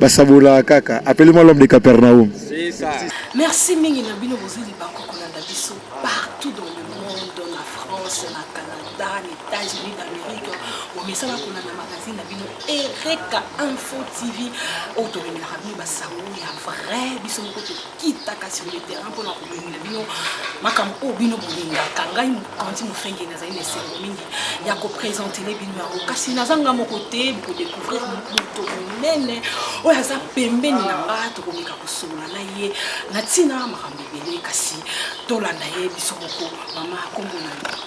Basabolaka kaka apele moi l'homme de Capernaum. Merci mingi na bino bozeli banko kolanda biso partout dans le monde na France na Canada na États-Unis d'Amérique bomesana kolanda magazine na bino Ereka Info TV oyo tomemelaka bino basango ya vrai biso moko kitaka sur le terrain mpona kobimela bino makambo oyo bino bolingaka ngai mokonzi mofenge nazali na esengo mingi ya kopresentele bino yango kasi naza nga moko te bokodecouvrir moto monene oyo aza pembeni na nga tokomeka kosolola na ye na ntina makambo ebele kasi tolanda ye biso moko mama kombo na yo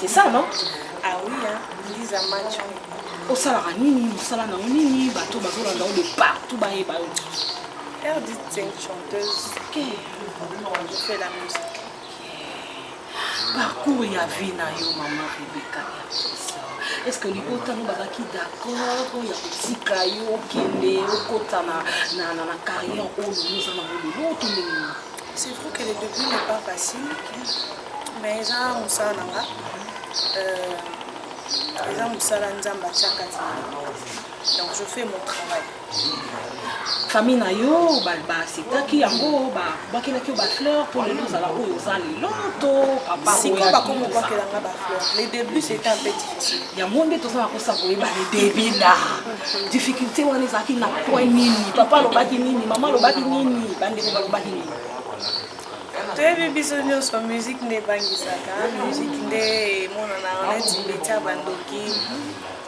C'est ça, non Ah oui, hein, Lisa Macho. osalaka nini mosala nango nini bato bazolanda yo de partout bayeba yo Air dit c'est une chanteuse. Ok. Je fais la musique. parcours ya vie na yo mama rebeka ya kosa est ce que libota no bazalaki d'accord ya kotika yo okende okota na, na, na, na carrière oyo oza nango lelo to ndenge nini C'est vrai que le début n'est pas facile. Mais eza musala na nga euh, eza musala nzambe atya kati donc je fais mon travail famille na yo baacceptaki yango babakelaki yo bafleur mpo lelo ozala oyo oza lelo to papasikoyo bakomobakela nga bafleur le début c'était un peu difficile yango nde tozala kosa koyeba le début la difficulté wana ezalaki na point nini papa alobaki nini mama alobaki nini bandeko balobaki nini toyebi biso nyonso musique nde ebangisaka musique nde emonanaka neti metia bandoki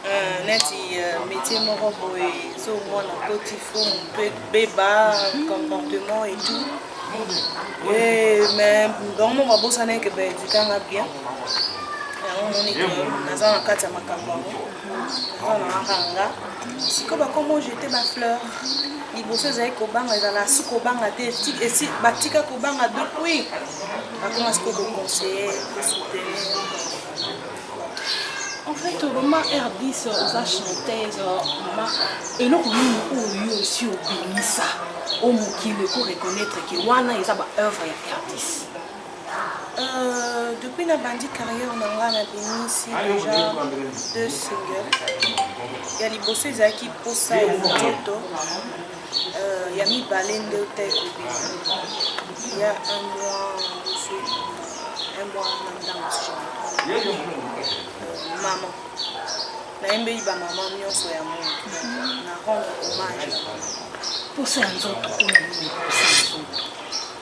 euh, neti euh, métier moko boye so omona koti fo moto ebeba comportement et tout eh, mais bango moko babosanaki baedikanga bien yango omoni naza na kati ya makambo yango mwana makanga sikoyo bakomo jete bafleur liboso ezali kobanga ezala su kobanga te esi batika kobanga depuis bakoma sikoyo koconseille kosoutenir en fait mama rdis oza chanteuse mama eloko nini oyo osi obimisa o mokili ko reconnaître ke wana eza ba œuvre ya rdis Euh, depuis na bandi carrière na nga na bimisi déjà deux singles ya liboso ezalaki posa ya nzoto euh, ya mibale nde ota ekobima ya un mois mosu un mois na ntango euh, mama nayembeli bamama nyonso ya monde na rendre hommage posa ya nzoto oyo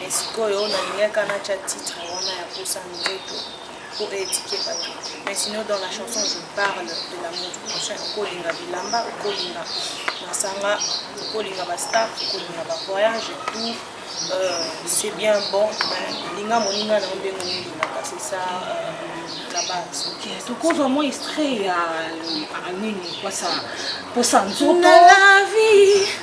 Mais sikoyo nalingaka natya titre wana ya posa nzoto po etike bato mais sinon dans la chanson je parle de l'amour du prochain okolinga bilamba okolinga masanga okolinga bastaff okolinga bavoyage tout euh, c'est bien bon mais linga moninga na yo ndenge olingaka c'est ça euh, la base tokozwa mwa extrait ya nini posa nzoto na la vie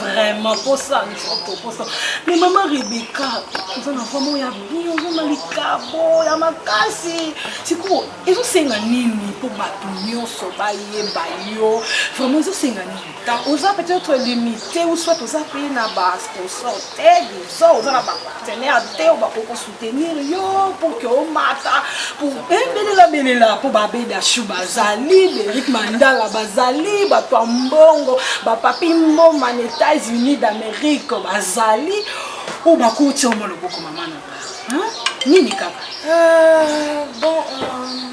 vraiment posa nzoto posa mais mama rebeka oza na vrama ya bien oza na likabo ya makasi sikoyo ezosenga nini mpo bato nyonso bayeba yo vraiment ezosenga nini oza peut-être limité ou soit oza mpe na basponsor te disons oza na bapartenaire te oyo bakokosu tenir yo pour que omata pour belela belela mpo babedashu bazali berik mandala bazali bato ya mbongo bapapi mboma na états-unis d'amérique bazali oyo bakuti omo loboko mama na ba nini kaka euh, bon, euh...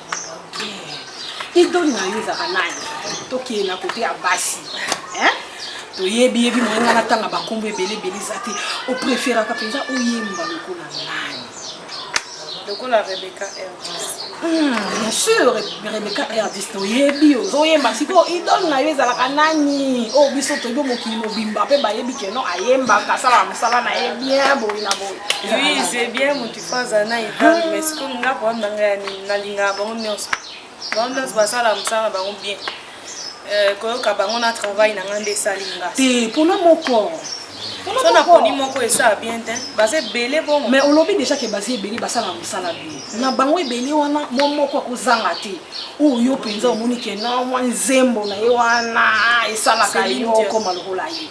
idole na yo ezaka nani tokende na kote ya basi toyebi yebi moye ngai natanga bankombo ebele ebele eza te opreferaka mpenza oyemba lokola nani lokola rebeka erdis hmm, bien sûr rebeka erdis toyebi ozoyemba sikoyo idole na yo ezalaka nani oyo oh, biso toyebi mokili mobimba mpe bayebi keno ayembaka asalaka mosala na ye bien boye na boye Faza na idole mais sikoyo nga problème na ngai ya nini nalingaka bango nyonso bango nyonso basala mosala na bango bien euh, koyoka bango na travail na ngai nde esali nga te mpona moko so naponi moko esala bien te baza ebele bongo mais olobi déjà ke baza ebele basala mosala bien na bango ebele wana mo moko akozanga te oyo yo mpenza omoni ke na mwa nzembo na ye wana esalaka yo okoma lokola ye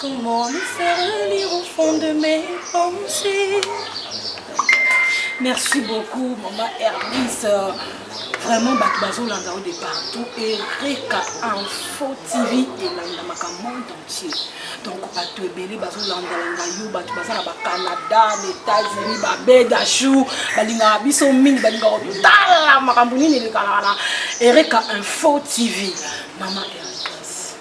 Comment me faire lire au fond de mes pensées Merci beaucoup, maman Hermès. Vraiment, bato bazolanda yo de partout. Ereka Info TV elandamaka monde entier. Donc, bato ebele bazolandalanda yo, bato baza na bacanada, na États-Unis, babedachou, balingaka biso mingi, balingaka kotala makambo nini elekalaka na Ereka Info TV. Maman Hermès.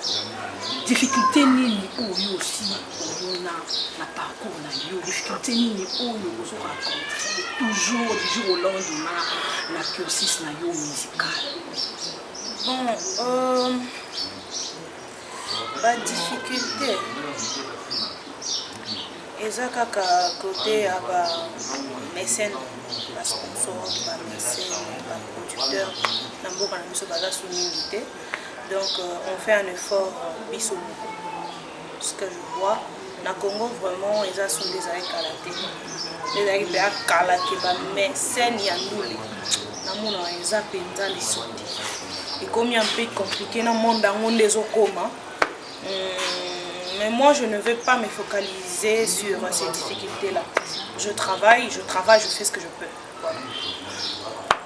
difficulté nini oyo osi omona na parcours na yo difficulté nini oyo ozo rencontre toujours du jour au lendemain na cursus na yo musical bon euh, ba difficulté eza kaka kote ya ba mécène basponsor bamese baproducteur na mboka na biso baza so mingi te Donc on fait un effort biso moko ce que je vois na Congo vraiment eza soni ezalaki kala te ezalaki mpe akala ke ba mais scène ya ndule namonaka eza mpenza lisondi ekomi un peu compliqué na monde yango nde ezokoma hmm, mais moi je ne veux pas me focaliser sur ces difficultés là je travaille je travaille je fais ce que je peux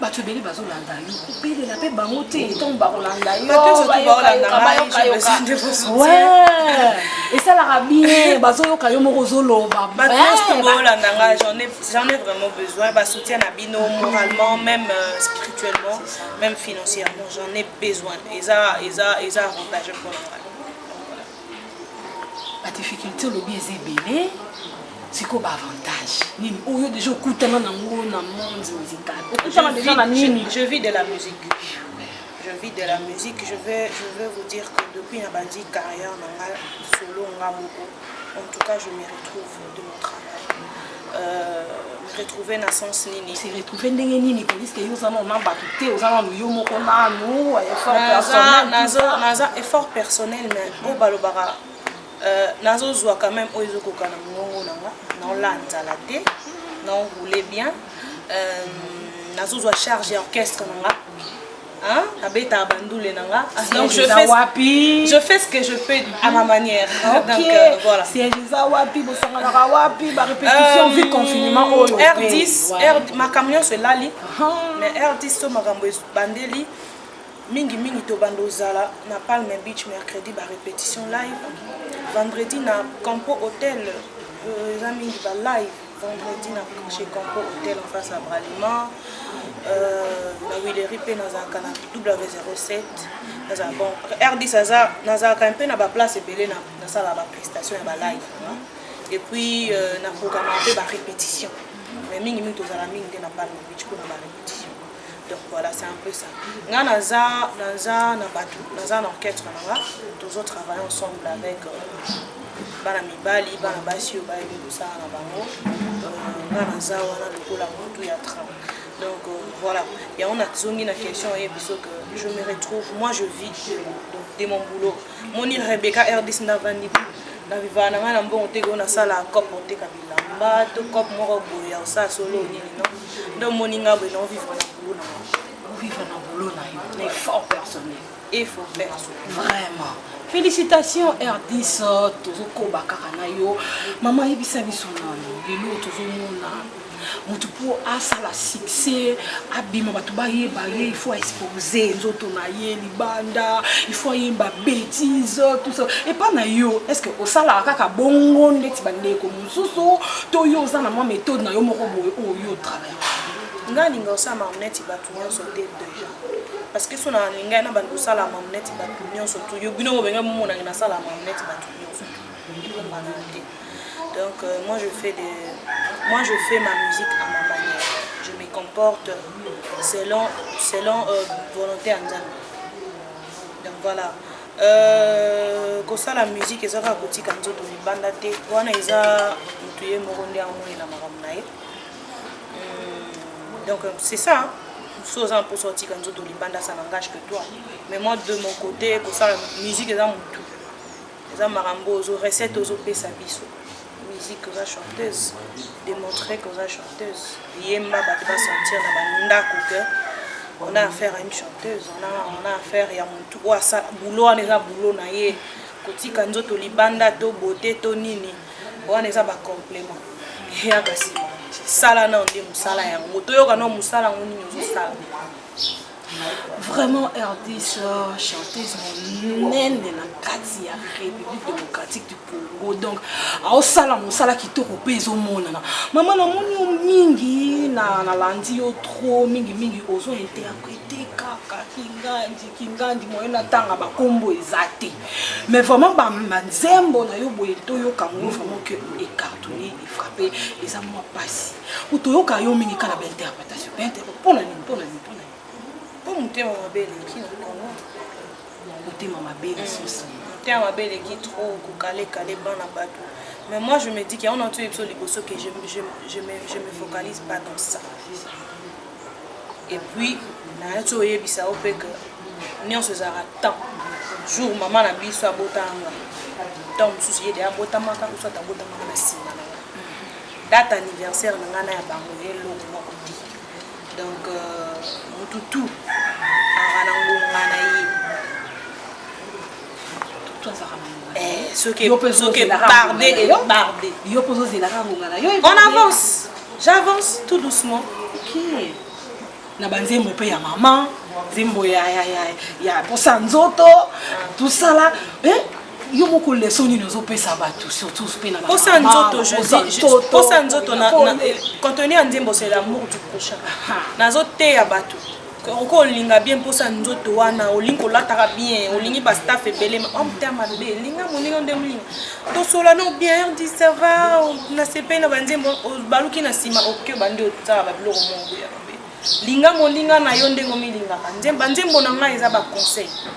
bato ebele bazolanda yo kobelela mpe bango te ntango bakolanda yoesalaka bien bazoyoka yo moko ozoloba baolanda nga j'en ai vraiment besoin basoutien na bino moralement même euh, spirituellement même financièrement j'en ai besoin eza eza eza avantage mpona ngai ba difficulté olobi eza ebele sikoyo ba avantage nini oyo oh, deja okutana nango na monde musical okutana deja na nini je vis de la musique je vis de la musique je vais je vais vous dire que depuis nabandi carrière na ngai solo nga moko en tout cas je me retrouve de mon travail euh, retrouver na sens nini se retrouver ndenge nini poliske yo oza nano na bato te oza nano yo moko nano effort personnel naza effort personnel mais oyo balobaka euh, nazozwa quand même oyo ezokoka na mongongo na nga naola nzala te naoroule bien euh, nazozwa charge ya orchestre na nga Hein? Abeta bandule nanga. Ah, donc je fais wapi? Je fais ce que je peux à ma manière. Ah, okay. Donc euh, voilà. C'est Elisa wapi bosanganaka wapi ba répétition euh, vite confinement oh, oyo. R10 R ma camion se lali. Ah. Mais R10 to makambo bandeli mingi mingi to bando zala na Palme Beach mercredi ba répétition live. Vendredi na Campo Hotel euh, eza mingi ba live. vendredi na chez Conco Hotel en face à Bralima euh, na Willery mpe nazalaka na W07 nazala bon R10 aza nazalaka mpe na baplace ebele nasala baprestation ya balive et puis euh, na programme mpe barépétition mais mingi mingi tozala mingi nde na palme beach mpo na barépétition donc voilà c'est un peu ça nga naza naza na bato naza na orchestre na nga tozo travaille ensemble avec euh, bana mibali bana basi oyo bayebi kosala na bango euh, nga naza wana lokola motu ya train donc euh, voilà yango nazongi na question oye biso que je me retrouve moi je vis donc de mon boulot moni rebecca rdc navandi na vivaa na ngai na mbongo te koo nasala cope oteka bilamba to cope moko boye ya osala solo nini non Nde omoni nga boye nao vivre na boulot na yo. Vivre na boulot na yo, na effort personnel. Effort personnel. Vraiment. Félicitations RDS, tozokoba kaka na yo. Mama yebisa biso nani lelo tozomona moto mpo asala succès abima bato bayeba ye il faut expose nzoto na ye libanda il faut ayemba bétise tout ça epa na yo est ce que osalaka kaka bongo ndeti bandeko susu to yo oza na mwa méthode na yo moko boye oyo yo travaille nga alinga osala marneti bato nyonso te deja parce que so na alingai na bando osala marneti bato nyonso tu yo bino bobengai momonange nasala marneti bato nyonso ekombana te donc euh, moi je fais de moi je fais ma musique à ma manière je me comporte selon selon euh, volonté ya nzambe donc voilà Euh, kosala musique eza kaka kotika nzoto libanda te wana eza motu ye moko nde amonela makambo na ye hmm, donc c'est ça so oza na mposa otika nzoto libanda ça n'engage que toi mais moi de mon côté kosala musique eza motu eza makambo ozo recette ozopesa biso Musique oza chanteuse demontre que oza chanteuse yemba bato ba sentir na bandako que on a affaire à une chanteuse on a, on a affaire ya mutu oyo asa boulot wana eza boulot na ye kotika nzoto libanda to beauté to nini wana eza ba complément ya basima sala nao nde mosala yango toyoka nao mosala yango nini ozosala Vraiment RDC chanteuse monene na kati ya République démocratique du Congo donc aosala mosala kitoko mpe ezomonana mama namoni yo mingi na nalandi yo trop mingi mingi ozo interprete kaka kingandi kingandi moye natanga bakombo eza te mais vraiment banzembo na yo boye toyoka ngo vraiment que ecartonne efrappe eza mwa mpasi po toyoka yo mingi kaka na bainterprete motema mabe lisusu motema mabe eleki trop kokalekale bana bato mais moi je me dis que yango na otoyebi biso liboso que je, je, je, me, je me focalise pas dans ça et puis nayaki oyebisa yo mpe que nyonso ezalaka temps jour mama na biso abotanga ntango mosusu ye de abotamaka osati abotamaka na nsima na Date anniversaire na nga na ya bango eloko moko te. Donc mutu tout azalaka na ngonga na ye. Soki soki barde et barde. Yo pozo zela ka ngonga na yo. On avance. J'avance tout doucement. OK. Na banzembo pe ya maman, nzembo ya ya ya ya posa nzoto, tout ça là. Eh? yo moko leso nini ozopesa bato surtoutposa nzoto posa nzoto contenu ya nzembo c'est l'amour du prochain nazoteya bato oko olinga bien mposa nzoto wana olingi kolataka bien olingi bastaff ebele omta mabe linga moninga nde molinga tosolano bien rdi sava nasepeli na banzembo baluki na nsima oke bande otala babiloko moko ya mabe linga moninga na yo ndenge omilingaka banzembo na ngai eza baconseil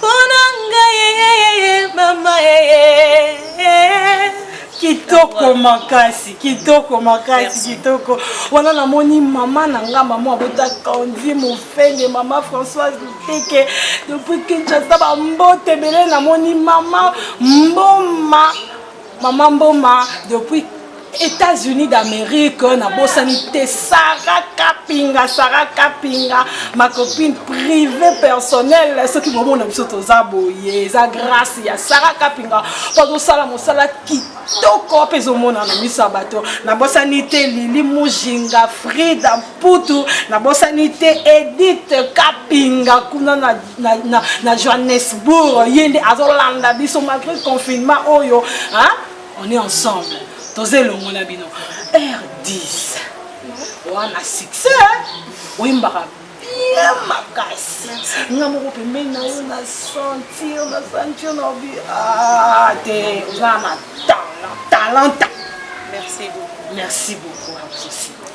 Pona ngai eh, mama kitoko makasi kitoko makasi kitoko wana namoni mama na nga mama abota kandi mofende mama françoise luteke depuis kinshasa bambote ebele namoni mama mboma Maman Mboma depuis États-Unis d'Amérique, na bosani te Sarah Kapinga, Sarah Kapinga, ma copine privée personnelle, ce qui moment na biso toza boye, eza grâce ya Sarah Kapinga, pas au sala mosala kitoko pe zo mona na miso ya bato. Na bosani te Lili Mujinga, Frida Mputu, na bosani te Edith Kapinga kuna na na, na, na johannesbourg ye nde azolanda biso malgré confinement oyo hein? on est ensemble toza elongo na bino r 10 wana succès oyembaka bien makasi nga moko pembeni na yo na sentir na sentir na obi ah, te oza na talent talent merci beaucoup merci beaucoup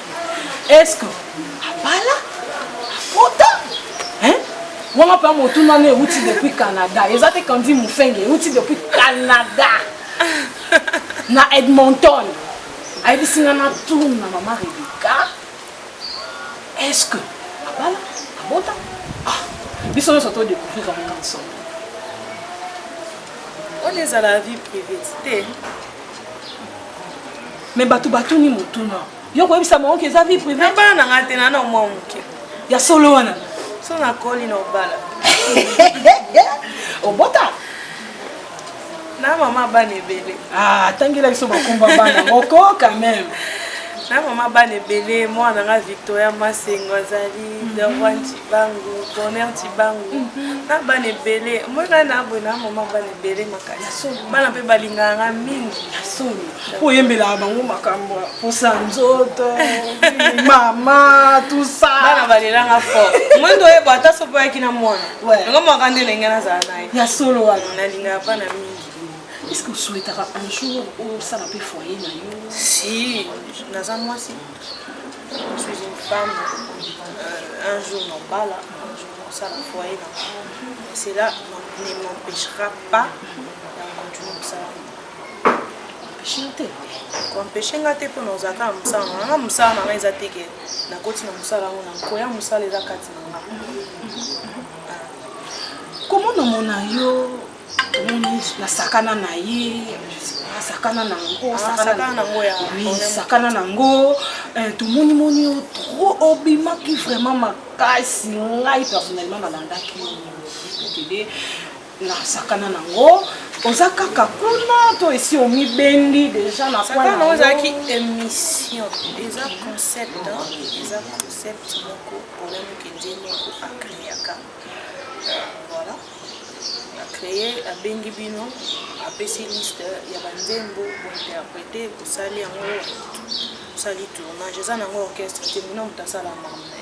eske abala akota wana mpe motuna no euti depuis canada eza te kandi mofenge euti depuis canada na edmonton ayebisi nga na tour na mama rebeka eske abala abota ah, biso nyonso to découvrir yango ensemble oyo ezala vie privée te Mais bato batuni motuna. Yo koyebisa bango ke eza vie privée. Na bana na nga te na na mwa moke. Ya solo wana. So na koli na obala. Obota. Na mama bana ebele. Ah, tangela biso bakomba bana. Moko quand même. na mama bana ebele mwana nga victoria masengo azali mhm. deroi ntibangu corner ntibangu mhm. na bana ebele moi ngai na boye na mama bana ebele makasi bana mpe balingaka nga mingi Mpo oyembelaka bango makambo mposa nzoto mama tusa bana balelanga fort mwendo oyeba ata soki oyaki na mwana yango mwaka nde elenge nazala na ye ya solo wana nalingaka mpa na mingi est ce que osuetaka un jour osala mpe foyer na yo si naza mwasi suis une femme euh, un jour nobala un jour nosala foyer na c'est là ne m'empêchera pas ya continuer kosala empeshe nga te mpo na ozala kaka mosala na nga mosala na nga eza te ke nakoti na mosala yango na nkoya mosala eza kati na nga komo namona yo omoni nasakana na ye asakana na yango asakana na yango tomonimoni yo tro obimaki vraiment makasi ngai personnellement nalandaki yo nasakana nango oza kaka kuna to esi omibendi deja na sakana ozalaki émission eza concept eza concept moko olani kenze moko akreaka voilà acreye abengi bino apesi liste ya banzembo bointerprete bosali yango osali tournage eza nango orchestre te mino moto asala mame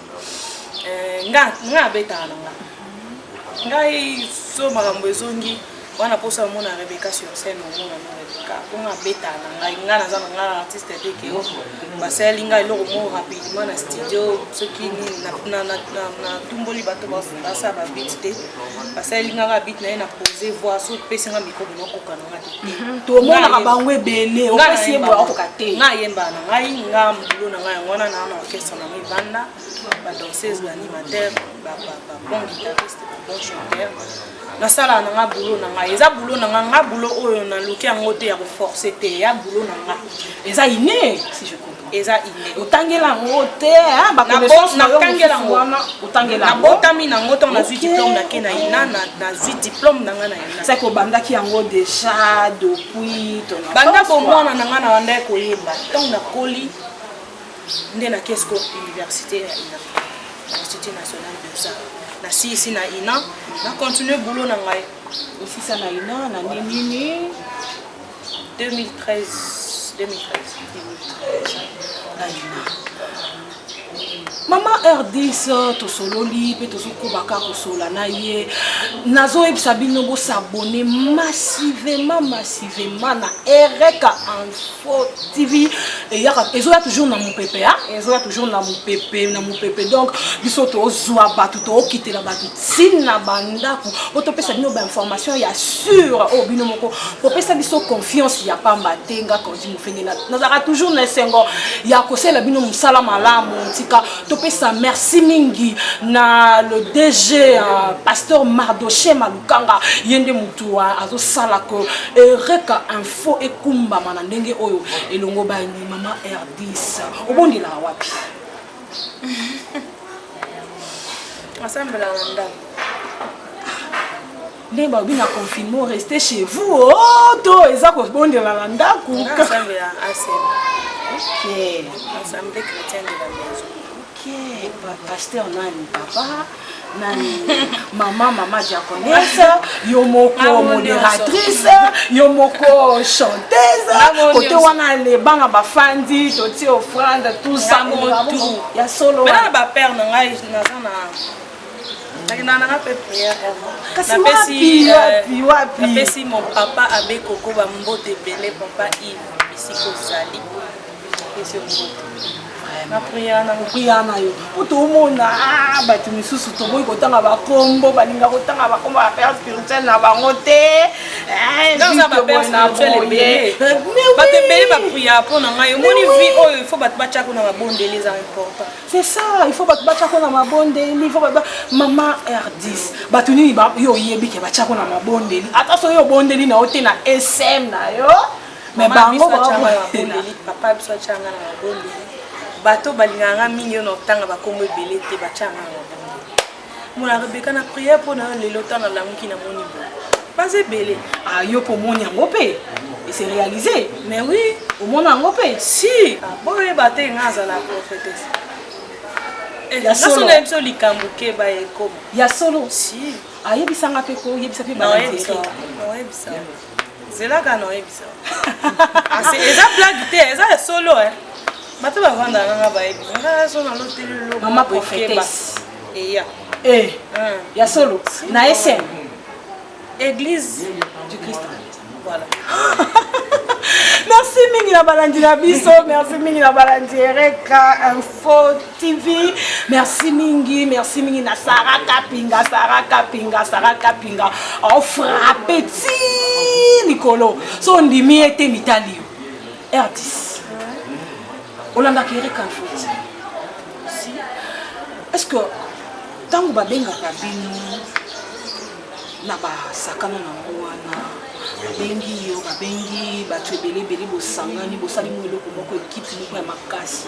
eh, nga nga abetaka na nga ngai so makambo ezongi wana mposa omona rebeka sur scène omona no rebeka mpo nga abetaka na ngai nga naza na ngai artiste te ke basaleli ngai eloko moko rapidement na studio soki natumboli bato basala babit te basaleli ngai babit na ye na pose voi so pesi ngai mikro bino kokana tomonaka bango ebele opesi ye boya okoka te nga ayembaka na ngai nga mbulo na ngai yango wana naa na orchestre na ngai banda badanseuse baanimateur babon guitariste babon chanteur nasalaka na nga bulo na ngai eza bulo na nga nga bulo oyo naluki yango te ya koforce te ya bulo na nga eza ine si je comprends eza inde otangela yango te hein, ba connaissance na tangela yango wana otangela yango nabotami na yango ntango nazwi diplôme na kena ina nazwi diplôme na ngai na ina seke obandaki yango déjà depuis ton banda bomwana na ngai na banda koyemba ntango nakoli nde na kesco université ya ina institut national de ça nasilisi na ina na continue boulot na ngai osisa na ina na nini mama rdis tosololi mpe tozokobaka kosola na ye nazoyebisa bino bosabone massivement massivement na ereka info tv eyaka ezoya toujours na mopepe a ezoya toujours na mopepe na mopepe donc biso tozwa bato tookitela bato sine na bandako po topesa bino bainformation ya sur oyo oh, bino moko kopesa biso confiance ya pamba te nga kandi mofenge nazalaka toujours na esengo ya kosalela bino mosala malamu tika topesa merci mingi na le dg uh, pasteur mardoche malukanga ye nde motu uh, azosala ko ereka info ekumbama na ndenge oyo elongo bani mama rdis obondelaka wapi asambela na ndako ndenge balobi na confinement reste chez vous o oh, to eza kobondela na ndako pasteur nani papa maman maman japonaise yo moko ah, modératrice yo moko chanteuse ah, côté wana lebanga bafandi totie offrande tout ça ya solo na bapère na ngai naza na napesi mon papa abe kokoba mbote ebele papa ive bisika ozali na priya na priya na yo mpo tomona ah, bato misusu toboyi kotanga bakombo balinga kotanga bakombo ya père spirituel na bango te eh, bato ebele bapriya mpo na ngai omoni vi oyo il faut bato batyako na mabondeli eza important c'est ça il faut bato batyako na mabondeli il faut bato mama r10 bato nini yo oyebi ke batyako na mabondeli ata soki obondeli na yo te na sm na yo mais bango babondeli papa biso atyanga na mabondeli bato balingaka nga mingi yo na otanga bakombo ebele te batyanga na mabondeli mona rebeka na priere mpo na yo lelo ntango alamuki na moni boye baza ebele ah, yo mpo omoni yango mpe ese réalise mais oui omona yango mpe si ah, boyeba te nga azala prophétese eh, nasona ye biso likambo keba ekoma ya solo si ayebisanga mpe koyebisa mpe bana zelaka na oyebisa ah, eza blague te eza ya solo eh. bato bavanda nanga bayebi ngaso na loteli lomama prophétesse eya eh, eh. ya solo na esem église du christ voilà merci mingi na balandi na biso merci mingi na balandi ereka info TV. Merci mingi, merci mingi na Sarah Kapinga, Sarah Kapinga, Sarah Kapinga. On frappe ti Nicolo. So ndimi ete mitali. Erdis. Olanda kere kanfuti. Est-ce que tango babengaka bino na basakano na ngo wana babengi yo babengi bato ebele ebele bosangani bosali mo eloko moko ekipe moko ya makasi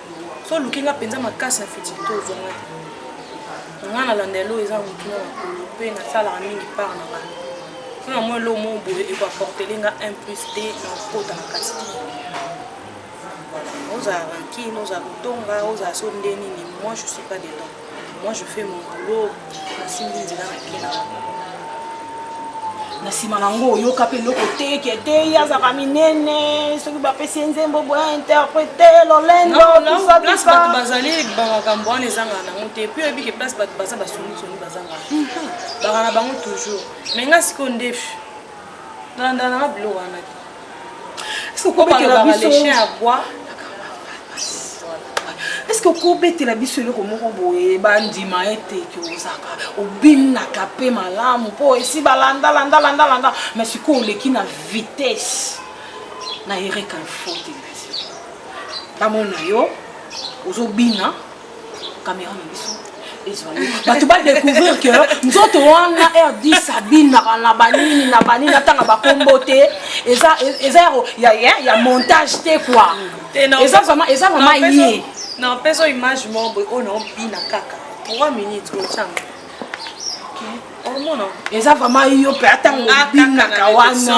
so oluki nga mpenza makasi na feti to ozwa nga te nga nalanda elo eza motuna makolo mpe nasalaka mingi part na ngai mpo na mwa elo moko boye ekoaportele nga un plus te na kokota na kati te ozala rankine ozala kotonga ozala so nde nini moi je suis pas dedans Moi je fais mon boulot, nasimbi nzela na kena. Na nsima na ngo oyoka mpe eloko te ke te ye azalaka minene soki bapesi ye nzembo boya interprete lolendo place bato bazali bamakambo wana ezangaka nango te mpe oyebi ke place bato baza basonisoni bazangaka baka na bango toujours mai nga sikoyo ndefi Tolandana na bilo wana te. Est-ce que obetela biso les chiens à bois? Est-ce que okobetela biso eloko moko boye bandima ete ke ozaka obinaka mpe malamu mpo esi balanda landa landa landa mais sikoyo oleki na vitesse na ereka info te bamona yo ozobina Caméra na biso ezwani bato ba découvrir que nzoto wana rd sabine na na banini na banini atanga bakombo te eza eza ya ya ya montage te quoi eza vraiment eza vraiment ye na peso image moko boye oyo na obina kaka 3 minutes otyanga eza vraiment yo mpe atangobinaka wanate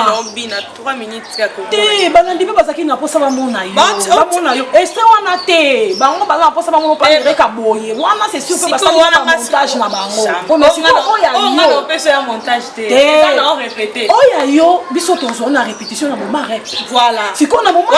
balandi mpe bazalaki na mposa bamona yobamona yo ese wana te bango baza na mposa bamona paereka boye wana se sur mpe basalaka montage na bango oya yo biso tozwa na répétition na momare sikoyo na momaoyo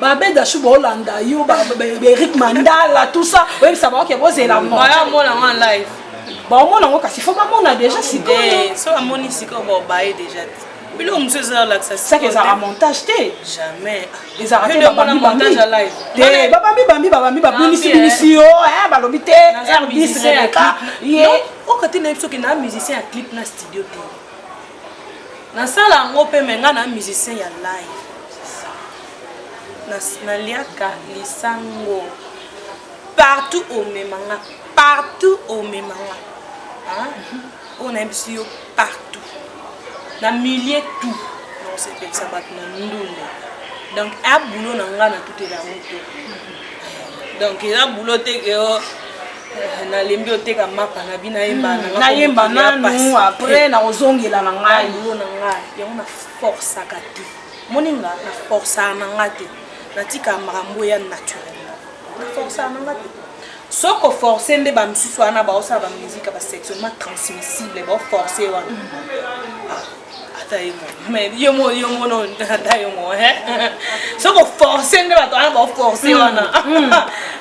babe dashu baolanda yo eric mandala tout ça oyebisa bango ke bozela moyamona ngo live baomona ngo kasi fo bamona deja sikoyo so bamoni sikoyo baobaye deja te biloko mosusu eza olakisa seke ezalaka montage te jamais ezalaka te babambi babambi babambi babambi babimisi bimisi yo balobi te rdis rebeka ye oka te nayebi soki na musicien ya clip na studio te nasala yango mpe me ngai na musicien ya live naliaka lisango partout omema nga partout omema nga oyo nayebisi yo partout na milieu tout naosepelisa bato na ndundu donc a bulo na nga na tutela yango te donc eza bulo te ke oh, eh, nalembi oteka mapa na bino nayemba hmm, nayemba nanu apres nakozongela na ngai yango na forcaka te moni nga na forcaka na nga te natika makambo ya naturellement na forcaka na nga te soko force nde bamosusu wana baosala bamusike ya basectionnement transmissible baoforce wana mm. ah, ata ye mo mais yo mo yo mono ata yo mo soko force nde bato wana baoforce mm. wana mm.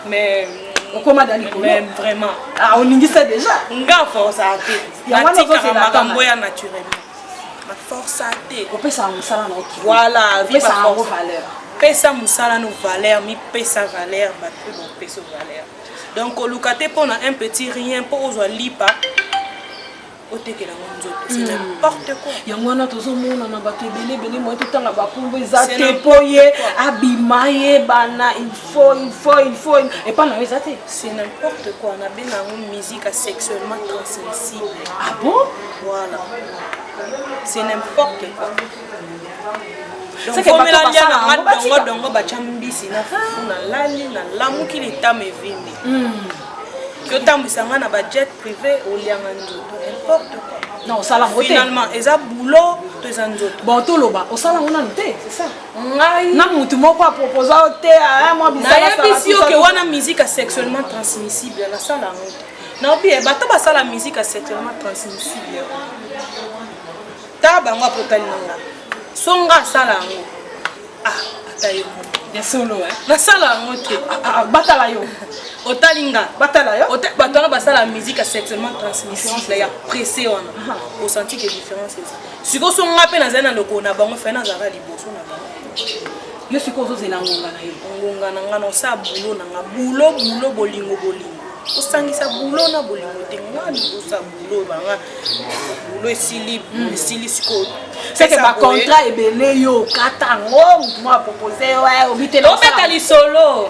mais okoma da likolo vraiment ah, oningisa déjà nga force ate natika makambo ya naturellement forsa te opesaka mosala na oki voilà opesa yango valeur pesa mosala no valeur mipesa valeur bato mpe bopesa valeur donc koluka te mpo na un petit rien mpo ozwa lipa otekela ngo nzoto c'est hmm. n'importe quoi yango wana tozomona na bato ebele ebele moye totanga bakombo eza te mpo ye abima ye bana ilfaut ilfaut ilfaut epa na yo eza te c'est n'importe quoi nabenga yango musique asexuellement transmissible ah bon Voilà. C'est n'importe quoi. omela lia na nga dongo dongo batya mbisi na fufu na lali na lamuki litama evimbi yotambwisa hmm. nga na bajet privé olianga nzoto importe quoi non osala yango te finalement eza boulot to eza nzoto bon toloba osala yango nanu te c'est ça ngai na mutu moko aproposa yo te aya ah, mwa bisalayebisi yo ke wana musique a sexuellement transmissible nasala yango te naobi eh, bato basala musique ya secrement transmissible ta bango apotali na nga so nga asala yango ah ata yo ya solo eh. nasala yango te ah, ah, ah, batala yo otali nga batala yo bato wana basala musique ya secrement transmissible ya presse wana osanti ke différence eza sikoyo so nga mpe nazali na lokolo na bango fai nazalaka liboso na bango Yo sikoyo ozozela ngonga na yo. Ngonga na nga na osala bulo na nga. Bulo bulo bolingo bolingo. Osangisa bulo na bolingo te. Nga libosa bulo na nga. Bulo esili hmm. esili sikoyo. Seke ba contrat ebele yo okata ngo moto mwa propose yo eh, obitela obeta lisolo.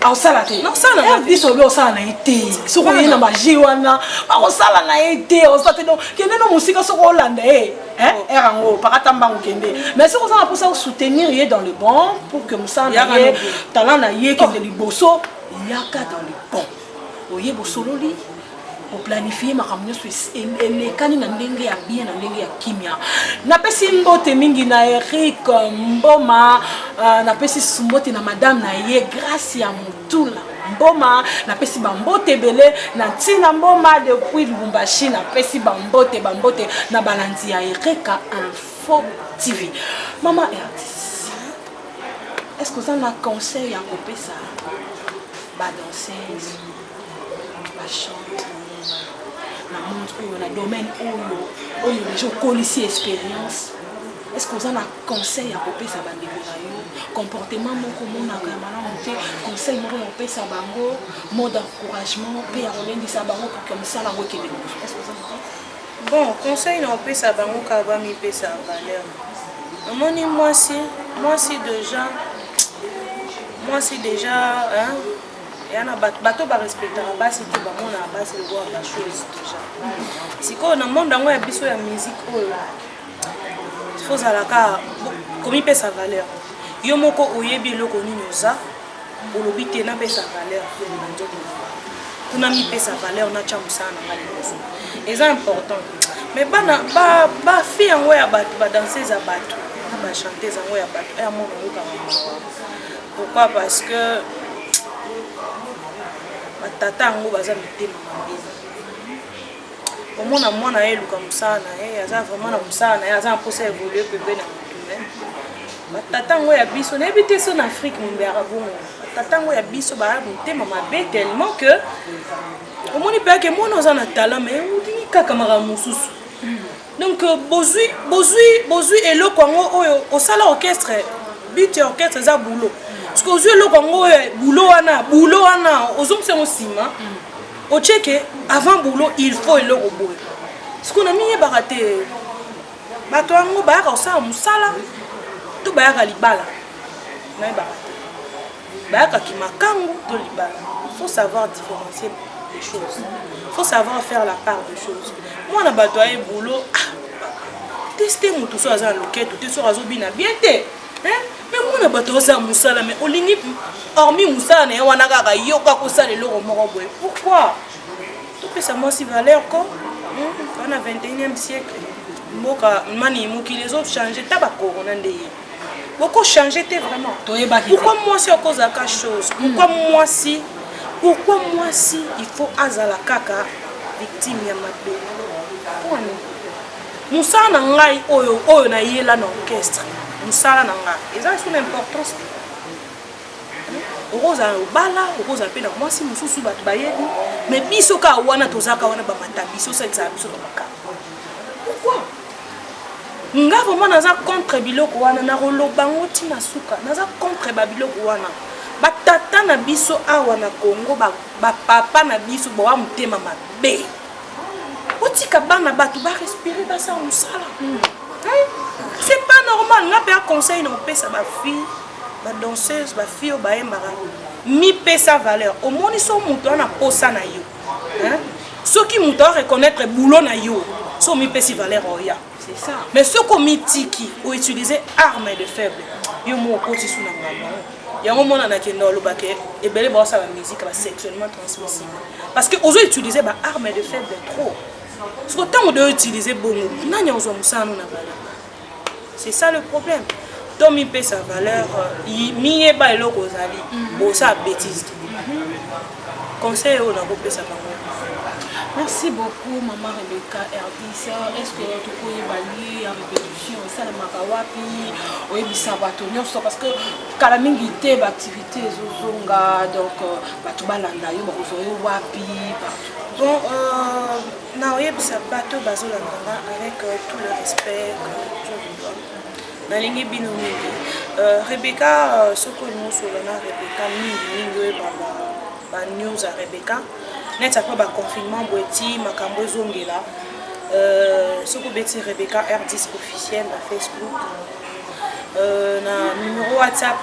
akosala te rdc obi osala na ye te soki oye na baje wana bakosala na ye te osala te donc kende no mosika soki olanda ye ere oh. yango pakata mbango kende mais soki oza na mposa osoutenir ye dans le bon pour que mosala na ye talent na ye kende oh. liboso yaka dans le bon oye bosololi koplanifie makambo nyonso elekani na ndenge ya bien na ndenge ya kimia napesi mbote mingi na eric euh, mboma uh, napesi mbote na madame na ye grace ya motula mboma napesi bambote ebele na ntina mboma depuis lubumbashi napesi bambote bambote na balandi ya erika info tv mama ertis est ce que oza na conseil ya kopesa badanseuse domaine oyo oyo deja okolisi expérience est ce que oza na conseil ya kopesa bandeko na yo comportement moko omonaka ya malamu te conseil moko ya kopesa bango mot d'encouragement mpe ya kolendisa bango pour que mosala yango ekende liboso est ce que oza na bon conseil na kopesa bango kaka bamipesa valeur omoni mwasi mwasi deja mwasi deja hein? yana bato bato barespectaka basi te bamonaka basi lokola bachose déjà sikoyo na monde yango ya biso ya musike oyo fozalaka komipesa valeur yo moko oyebi eloko nini oza olobi te napesa valeur na nzoto kuna mipesa valeur natya mosala na ngai liboso eza important me bana bafi yango ya bato badanseuse ya bato na bachantese yango ya bato ya mona oyokaka Pourquoi parce que batata yango baza mitema mabe omona mwana ye eluka mosala na ye aza vraiment na mosala na ye aza na mposa ya evolue pepe na motume batata yango ya biso nayebi te so na afrique mombeyaka bongo batata yango ya biso baya motema mabe tellement que omoni mpe ake mwana oza na talent mai olingi kaka makambo mosusu Donc euh, bozui bozui bozui eloko yango oyo osala orchestre but ya orchestre eza boulot soki ozwi eloko yango oyo boulot wana boulot wana ozongisa yango nsima otyeke avant boulot il faut eloko boye soki na miyebaka te bato yango bayaka kosala mosala to bayaka libala nayebaka bayaka kimakangu to libala il faut savoir différencier les choses il faut savoir faire la part des choses mwana bato aye boulot ah, teste motu soki aza na loketo te soki azobina bien te me mwana bato oza mosala me olingi hormi mosala na ye wana kaka yoka kosala eloko moko boye pourquoi topesa mwasi valeur ko wana 21e siècle mboka mani mokili ezochange ta bakorona nde ye boko changer te vraiment pourquoi mwasi akozalaka chose pourquoi mwasi pourquoi mwasi il faut azala kaka victime ya mabe mosala na ngai oyo oyo nayela na orchestre mosala na ngai eza lisusu na importance te okozala obala okozala mpe na mwasi mosusu bato bayebi mais biso kaka wana tozalaka wana bamata biso osalisaka biso na makambo pourquoi nga vraiment naza contre biloko wana nakoloba ngo ti na suka naza contre babiloko wana batata na biso awa na congo bapapa ba na biso boa motema mabe botika bana bato barespire basala mosala hmm. c'est pas normal nga mpe aconseil na kopesa bafille badanseuse bafille oyo bayembaka mipesa valeur omoni so moto wana mposa na yo hein soki muta reconnaître boulot na yo so mi pesi valeur oya c'est ça mais soki omitiki o utiliser arme de faible yo mo okoti sous na ngamba yango mona na kenda oloba ke ebele ba sala musique ba sexuellement transmissible parce que ozo utiliser ba arme de faible trop soki tango de utiliser bongo nani ozwa musala na valeur c'est ça le problème to mipesa valeur euh, miyeba eloko ozali mhm. bosa betise conseil oyo nakopesa bango merci beaucoup mama rebeka rdc est-ce que tokoyeba lieu ya répétition esalemaka wapi oyebisa bato nyonso parce que kala mingi te baactivité ezozonga donc euh, bato balanda yo bakozwa yo wapi bon euh, Na oyebisa bato bazo landa nga avec euh, tout le respect que je vous donne. nalingi bino mingi euh, rebeka euh, soki olingi osolola na rebeka mingi mingi oyeba banews ya rebeka neti apres baconfinement boye ti makambo ezongela euh, soki obeti rebeka rdis officiel na facebook na numero whatsapp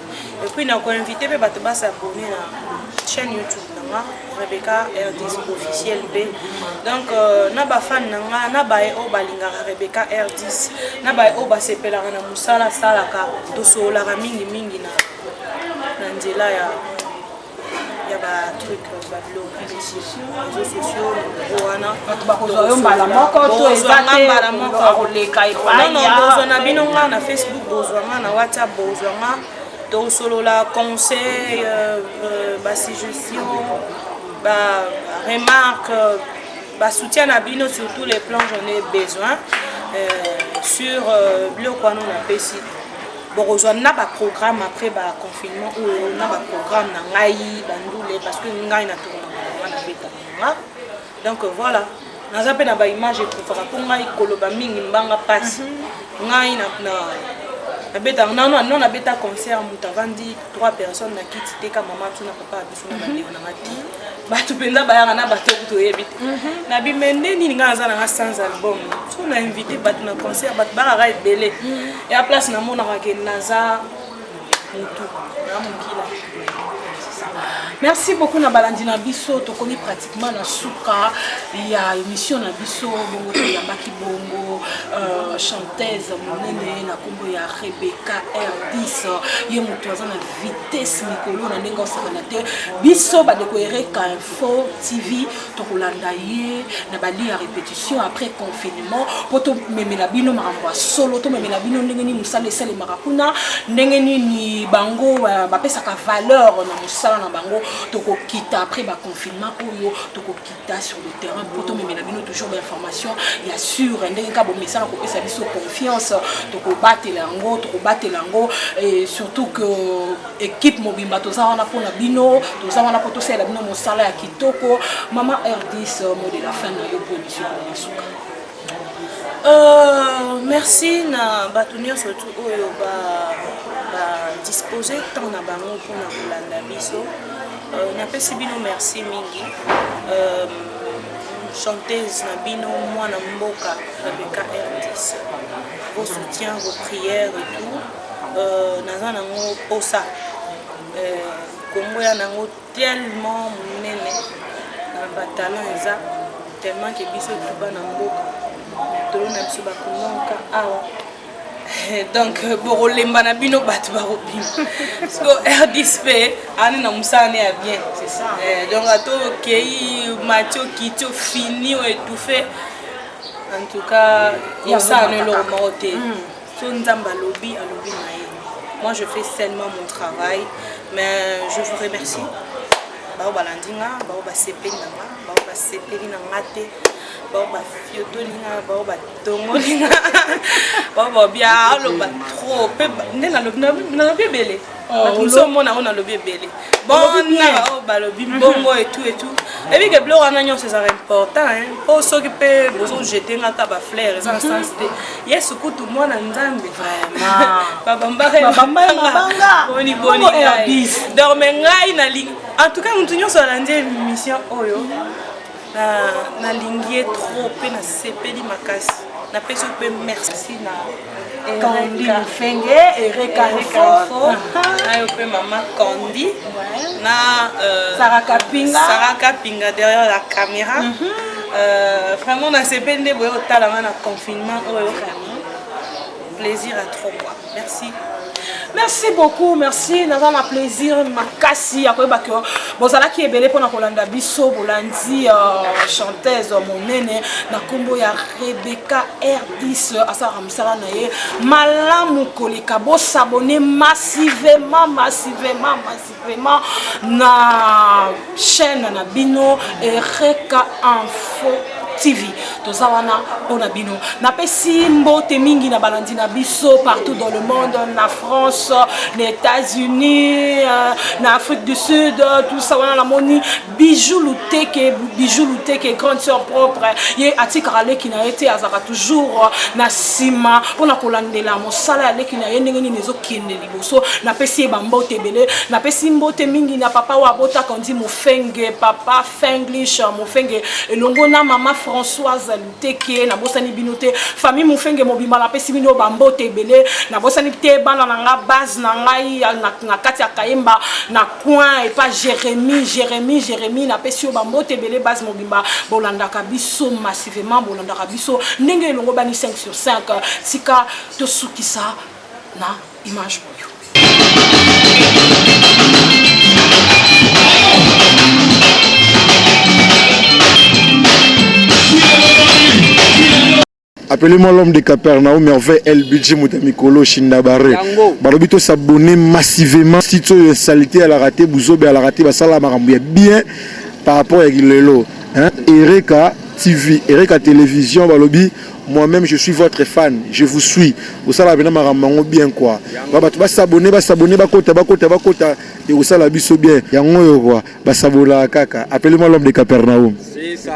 Et puis nako inviter pe bato ba s'abonner na chaîne YouTube na nga Rebecca RDZ officiel B. Donc euh, na ba fan na nga na ba o balingaka Rebecca RDZ na ba o basepelaka na musala salaka tosololaka mingi mingi na na nzela ya ya ba truc ba biloko ya reseau reseau sociaux yango wana bato bakozwa yo mbala moko to eza bozwa nga te mbala moko akoleka epai non non ya bozwa na bino nga na facebook bozwa nga na whatsapp bozwa nga tosolola conseil euh, euh, basuggestion ba remarque Ba soutien na bino sur tous les plans j'en ai besoin euh, sur euh, biloko wana na pesi bokozwa na baprogramme après baconfinement oyo na baprogramme na ngai bandule parce que ngai na tournaa na beta nanga donc voilà naza mpe na baimage ekufaka mpo ngai koloba mingi mbanga mpasi mhm. ngai nabeta nano nabeta concert moto avandi 3 personnes na kiti teka mama tuna papa bato mpenza bayaka na bato oyo toyebi te mhm. na bimende nini ngai naza nanga sans album so na invité bato na concert bato bakaka ebele mhm. ya place namonaka ke naza motu na mokila merci beaucoup na balandi na biso tokomi pratiquement na suka ya émission na biso bongo toyambaki bongo euh, chanteuse monene na nkombo ya rebecca r10 ye moto aza na vitesse mikolo na ndenge osakana te biso bandeko ereka info tv tokolanda ye na bali ya répétition après confinement mpo tomemela bino makambo ya solo tomemela bino ndenge nini mosala esalemaka kuna ndenge nini bango bapesaka valeur na mosala na bango tokokita après baconfinement oyo tokokita ta sur le terrain mpo tomemela bino toujours bainformation ya sure ndenge kaka bomesana kopesa biso confiance tokobatela yango tokobatela yango et surtout que équipe mobimba toza wana mpo na bino toza wana mpo tosalela bino mosala ya kitoko mama rdis mot de la fin na yo mpo emission na suka Euh, merci na bato nyonso tu oyo badispose ba temps na bango mpona kolanda biso euh, napesi bino merci mingi euh, chanteuse na bino mwana mboka rebeka rdc vos soutien vos prières et tout euh, naza nango mposa euh, kongo ya nango Tellement munene na ba talent eza tellement que biso tout bana mboka tolo na biso ba kumonka awa donc bokolemba na bino bato bakobima siko rdisp ani na mosala ne ya bien eh, donc ato okei mati okiti ofini oetouffe en tout cas mosala no eloko moko te mm. so nzambe alobi alobi na ye moi je fais seulement mon travail mais je vous remercie bao balandi nga bao basepeli na nga bao basepeli na nga te bao bafiotoli nga bao batongoli nga bao babia aloba trop mpe nde nalobi ebele ozo mona oyo nalobi ebele bonanga oyo balobi mbongo etu etu eyebi ke biloko wana nyonso ezalaka important mpo soki mpe bozojete nga ka bafleur eza na sens te yesu kutu mwana nzambe babambaabambaoni boni donc me ngai nalingi en tout cas motu nyonso alandi émission oyo Na nalingi ye trop pe na sepeli makasi. Na pesi pe merci na Candy Fenge et Reka Info. Ayo pe maman Candy na euh, Sarah Kapinga. Sarah Kapinga derrière la caméra. Mm -hmm. euh, vraiment na sepeli nde boye otala nga na confinement oyo vraiment plaisir à trop quoi. Merci. Merci beaucoup, merci. Naza na plaisir makasi ya koyeba que bozalaki ebele pona kolanda biso bolandi euh, chanteuse monene na kombo ya Rebecca R10 asala mosala na ye malamu koleka bo s'abonner massivement massivement massivement vraiment na chaîne na bino ereka info tv toza wana mpo na bino napesi mbote mingi na balandi na biso partout dans le monde na france na états-unis euh, na afrique du sud tout ça wana namoni Bijou Luteke, Bijou Luteke, grande sœur propre, ye atikaka leki na ye te, azalaka toujours na nsima mpona kolandela mosala ya leki na ye ndenge nini ezokende liboso. Napesi ye bambote ebele, napesi mbote mingi na papa oyo abotaka ondi Mofenge, papa Fenglish Mofenge, elongo na mama Françoise Luteke, nabosani bino te. Famille Mofenge mobimba napesi bino bambote ebele, nabosani te bana na nga, base na ngai na, na kati ya Kayemba na point epa jeremi jeremi jeremi napesi yo bambote ebele base mobimba bolandaka biso massivement bolandaka biso ndenge elongobani 5 sur 5 tika tosukisa na image oyo Appelez-moi l'homme de Capernaum, merveille LBG Muta Mikolo Shindabare. Balobi to s'abonner massivement si tu es salité à la raté buzobe à la raté ba sala makambo ya bien par rapport à Gilelo. Hein? Ereka TV, Ereka Télévision balobi moi-même je suis votre fan, je vous suis. Au sala bena makambo bien quoi. Ba bato ba s'abonner, ba s'abonner, ba kota, ba kota, ba kota et au sala biso bien. Yango yo quoi, ba sabola kaka. Appelez-moi l'homme de Capernaum. C'est ça.